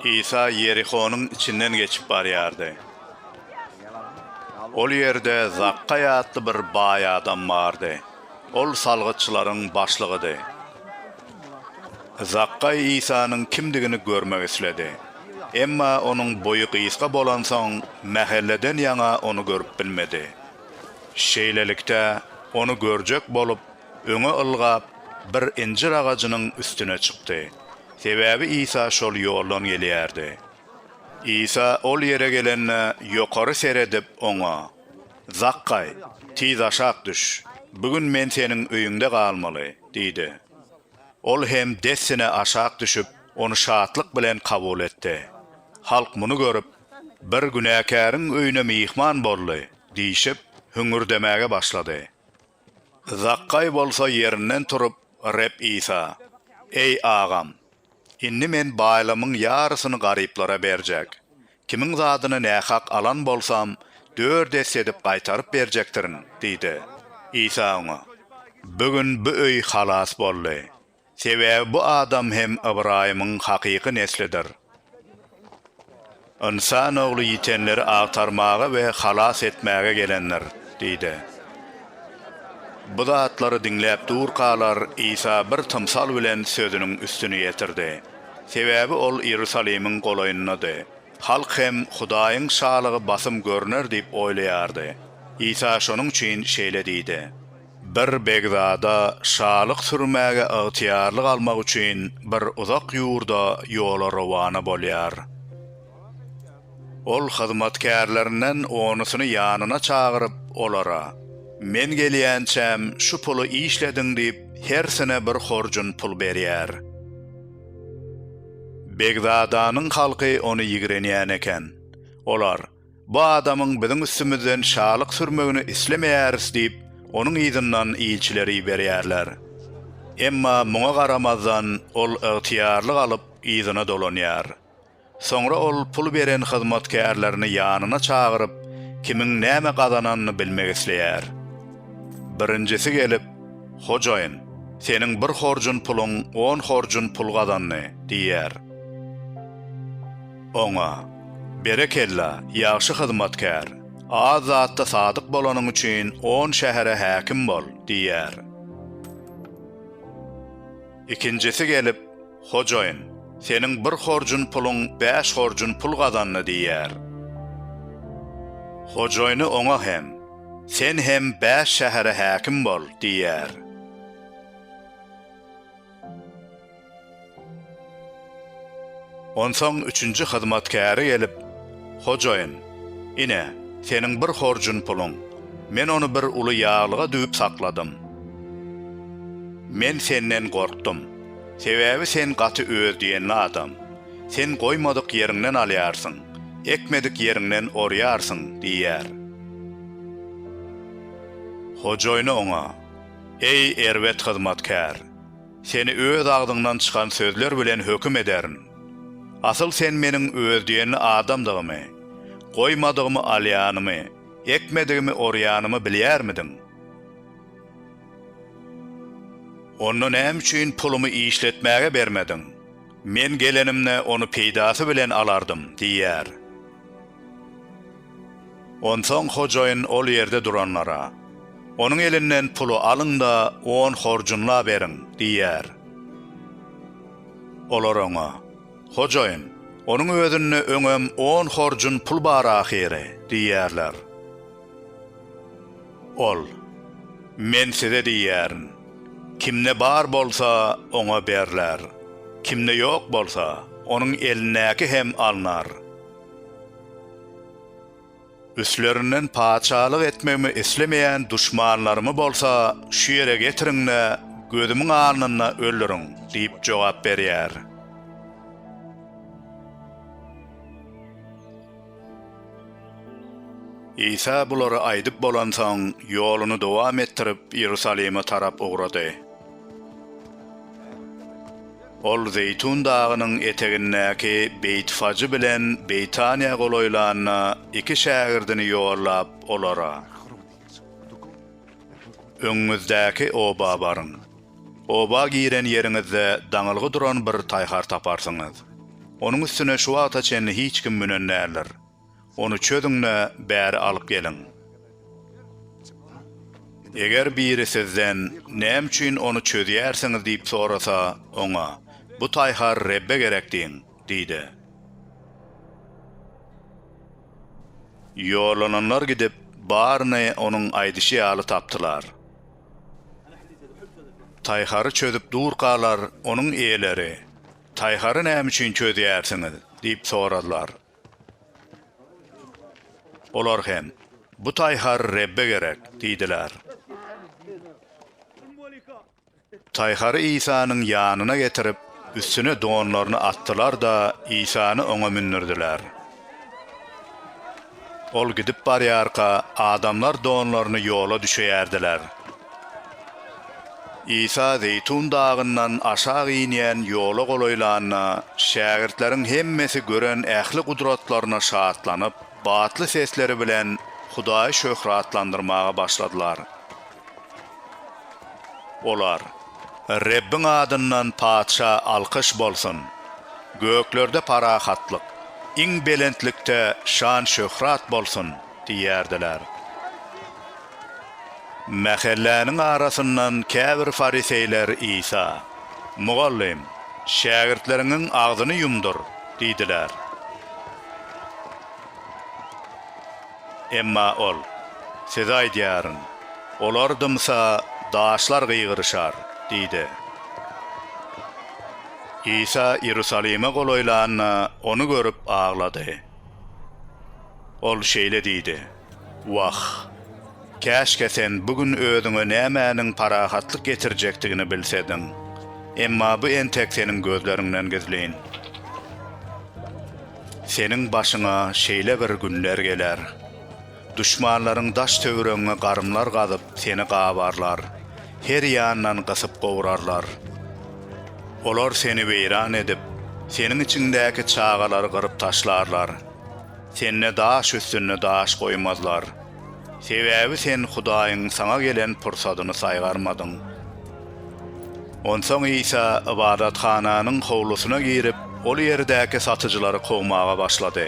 Isa Ýerihonyň içinden geçip barýardy. Ol ýerde Zakgaý atly bir baý adam bardy. Ol salgytçylaryň başlygydy. Zakgaý Isanyň kimdigini görmek isledi. Emma onuň boýy gysga bolansoň, mähelleden ýaňa ony görüp bilmedi. Şeýlelikde, ony görjek bolup, öňe ylgap, bir injir agajynyň üstüne çykdy. Sebäbi Isa şol ýoldan gelýärdi. Isa ol ýere gelende, ýokary seredip, oňa, Zakgaý, tiz aşak düş, bu gün men seniň öýüňde galmaly diýdi. Ol hem dessine aşak düşüp, ony şatlyk bilen kabul etdi. Halk muny görüp, Bir günäkäriň öýüne myhman boldy! diýşip, hüňürdemäge başlady. Zakgaý bolsa ýerinden turup, Reb Isa, Eý, agam! Indi men baýlygymyň ýarysyny garyplara berjek. Kimiň zadyny nähak alan bolsam, dört esse edip gaýtaryp berjekdirin diýdi. Isa oňa, Bu gün bu öý halas boldy. Sebäbi bu adam hem Ybraýymyň hakyky neslidir. Ynsan Ogly ýitenleri agtarmaga we halas etmäge gelendir diýdi. Bu zatlary diňläp durkalar, Isa bir tymsal bilen sözüniň üstüni ýetirdi. Sebäbi ol Iýerusalimiň golaýyndady. Halk hem Hudaýyň Şalygy basym görner diýip oýlaýardy. Isa şonuň üçin şeýle diýdi. Bir begzada şalyk sürmäge ygtyýarlyk almak üçin bir uzak ýurda ýola rowana bolýar. Ol hyzmatkärlerinden onusyny ýanyna çagyryp, olara, Men gelýänçäm şu puly işlediň diýip, hersine bir horjun pul berýär. Begzadanyň halky ony ýigrenýän eken. Olar, Bu adamyň biziň üstümizden şalyk sürmegini islemeýäris diýip, onuň yzyndan ilçileri iberýärler. Emma muňa garamazdan, ol ygtyýarlyk alyp, yzyna dolanýar. Soňra ol pul beren hyzmatkärlerini ýanyna çagyryp, kimiň näme gazananyny bilmek isleýär. Birinjisi gelip, Hojaýyn, seniň bir horjun puluň on horjun pul gazandy diýýär. Oňa, Berekella, ýagşy hyzmatkär! Az zatda sadyk bolanyň üçin on şähere häkim bol! diýer. Ikinjisi gelip, Hojaýyn, seniň bir horjun puluň bäş horjun pul gazandy diýer. Hojaýyny oňa hem, Sen hem bäş şähere häkim bol! diýer. Onsoň üçünji hyzmatkäri gelip, Hojaýyn, ine, seniň bir horjun puluň, men ony bir uly ýaglyga düwüp sakladym. Men senden gorkdum, sebäbi sen gaty öz diýenli adam, sen goýmadyk ýeriňden alýarsyň, ekmedik ýeriňden orýarsyň diýýär. Hojaýyny oňa. Eý, erbet hyzmatkär! Seni öz agzyňdan çykan sözler bilen höküm ederin. Asyl sen meniň öz diýenli adamdygymy, goýmadygymy alýanymy, ekmedigimi orýanymy bilýärmidiň? Onda näme üçin pulumy işletmäge bermediň? Men gelenimde, ony peýdasy bilen alardym diýýär. Onsoň hojaýyn ol ýerde duranlara, Onuň elinden puly alyň-da, on horjunla beriň! diýer. Olar oňa, Hojaýyn, onuň özünde öňem on horjun pul bar ahyry! diýerler. Ol, Men size diýýärin, Kimde bar bolsa, oňa berler, kimde ýok bolsa, onuň elindäki hem alnar. Üstlerinden patyşalyk etmegimi islemeýän duşmanlarymy bolsa şu ýere getiriň-de, gözümiň alnynda öldüriň! diýip jogap berýär. Isa bulary aýdyp bolansoň, ýoluny dowam etdirip, Iýerusalime tarap ugrady. Ol Zeýtun dagynyň etegindäki Beýtfajy bilen Beýtanyýa golaýlanda, iki şägirdini ýollap, olara, Öňüňizdäki oba baryň. Oba giren ýeriňizde daňylgy duran bir taýhar taparsyňyz. Onuň üstüne şu wagta çenli hiç kim münen däldir. Ony çözüň-de, bäri alyp geliň. Eger biri sizden, Näme üçin ony çözýärsiňiz? diýip sorasa, oňa, Bu taýhar Rebbe gerek diýiň! diý-de. Ýollananlar gidip, baryny onuň aýdyşy ýaly tapdylar. Taýhary çözüp durkalar, onuň eýeleri, Taýhary näme üçin çözýärsiňiz? diýip soradylar. Olar hem, Bu taýhar Rebbe gerek diýdiler. Taýhary Isanyň ýanyna getirip, üstüne donlaryny atdylar-da, Isany oňa mündürdiler. Ol gidip barýarka, adamlar donlaryny ýola düşeýärdiler. Isa Zeýtun dagyndan aşak inýän ýola golaýlanda, şägirtleriň hemmesi gören ähli gudratlaryna şatlanyp, batly sesleri bilen Hudaýy şöhratlandyrmaga başladylar. Olar, Rebbiň adyndan Patyşa alkyş bolsun! Göklerde parahatlyk, iň belentlikde şan-şöhrat bolsun! diýýärdiler. Mähelläniň arasyndan käbir fariseýler Isa, Mugallym, şägirtleriňiň agzyny ýumdur! diýdiler. Emma ol, Size aýdýaryn, olar dymsa, daşlar gygyryşar diýdi. Isa Iýerusalime golaýlanda, ony görüp aglady. Ol şeýle diýdi. Wah, käşgä sen bu gün özüňe nämäniň parahatlyk getirjekdigini bilsediň. Emma bu entek seniň gözleriňden gizlin. Seniň başyňa şeýle bir günler geler. Duşmanlaryň daş-töwregiňe garymlar gazyp, seni gabarlar, her ýandan gysyp gowrarlar. Olar seni weýran edip, seniň içiňdäki çagalary gyryp taşlarlar. Sende daş üstünde daş goýmazlar. Sebäbi sen Hudaýyň saňa gelen pursadyny saýgarmadyň. Onsoň Isa ybadathananyň howlusyna girip, ol ýerdäki satyjylary kowmaga başlady.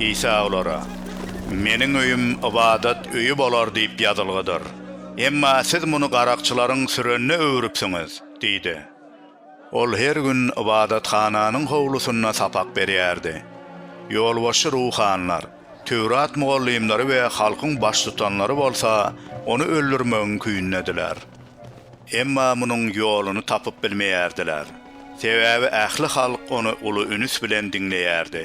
Isa olara, Meniň öýüm ybadat öýi bolar diýip ýazylgydyr, emma siz muny garakçylaryň sürenine öwrüpsiňiz diýdi. Ol her gün ybadathananyň howlusynda sapak berýärdi. Ýolbaşçy ruhanylar, Töwrat mugallymlary we halkyň baştutanlary bolsa ony öldürmegiň küýündediler. Emma munuň ýoluny tapyp bilmeýärdiler. Sebäbi ähli halk ony uly ünüs bilen diňleýärdi.